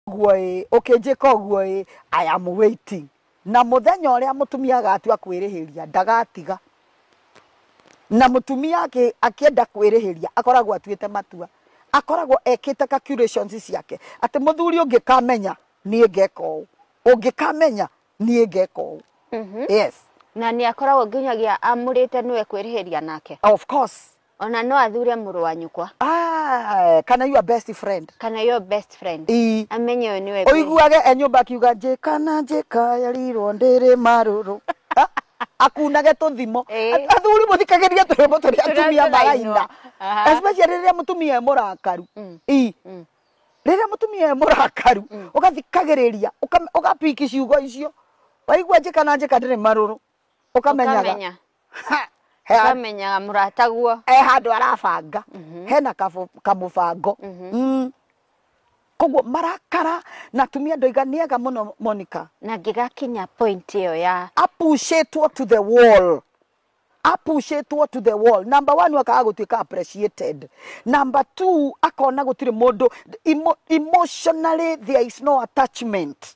guo ĩ ũkĩnjĩka ũguo ĩ i am waiting na mũthenya ũrĩa mũtumia agatua kwĩrĩhĩria ndagatiga na mũtumia akĩ- akĩenda kwĩrĩhĩria akoragwo atuĩte matua akoragwo ekĩte calculations ciake atĩ mũthuri ũngĩkamenya niĩ ngeka ũũ ũngĩkamenya niĩ ngeka ũũ yes na nĩ akoragwo nginyagia amũrĩte nĩwe kwĩrĩhĩria nake of course Ona no athure mũrũ wa nyũkwa. Ah, kana your best friend. Kana your best friend. Ii. Amenye ũyũ nĩwe. Ũiguage e nyũmba akiuga njĩka na njĩka yarirwo ndĩrĩ marũrũ. akunage tũthimo athuri mũthikagĩria tũrĩmbo tũrĩa atumia maraina especially rĩrĩa mũtumia e mũrakaru mm. i mm. rĩrĩa mũtumia e mũrakaru mm. ũgathikagĩrĩria ũgapiki ciugo icio waigua njĩka na njĩka ndĩrĩ marũrũ ũkamenyaga ũkamenya Ha, he handũ- ũkamenyaga mũrataguo e handå arabanga hena kabu- kamũbango Mm. koguo marakara na atumia ndoiga nĩ ega må no monica na ngĩgakinya point ĩyo ya apushĩtwo to the wall apushĩtwo to the wall number one akaga gũtuĩka appreciated number two akona gũtirĩ mũndũ emo- emotionally there is no attachment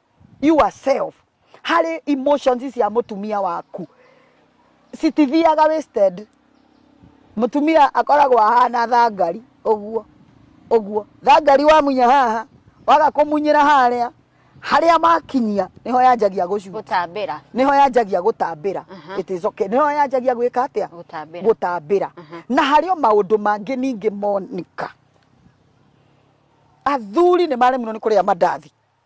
yourself harĩ emotions cia mũtumia waku citithiaga wasted mutumia akoragwo ahana thangari uguo uguo thangari wamunya haha waga kũmunyĩra harĩa harĩa makinyia niho yanjagia gũcura gũtambĩra niho yanjagia gũtambĩra it is okay niho yanjagia gwĩka atĩa Gũtambĩra. gũtambĩra na harĩ o maũndũ mangĩ ningĩ monika athuri nĩ maremirwo nĩ kũrĩa mandathi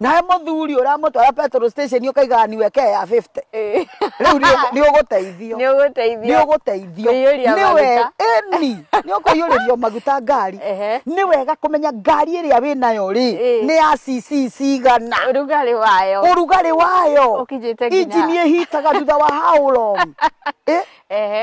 nawe mũthuri ũramũtwara petrol station ũkaigaga niwe ke ya 50 Eh. rĩu nĩ- nĩ ũgũteithio nĩ nĩ ũgũteithio ũgũteithio Kũiyũria nĩ we- maguta. ĩni nĩ ũkũiyũrĩrio maguta ngari Ehe. nĩ wega kũmenya ngari ĩrĩa wĩ nayo rĩ Ĩ. nĩ ya cc cigana ũrugarĩ wayo ũrugarĩ wayo Ũkinyĩte nginya- injini ĩhitaga thutha wa how long Eh? Ehe.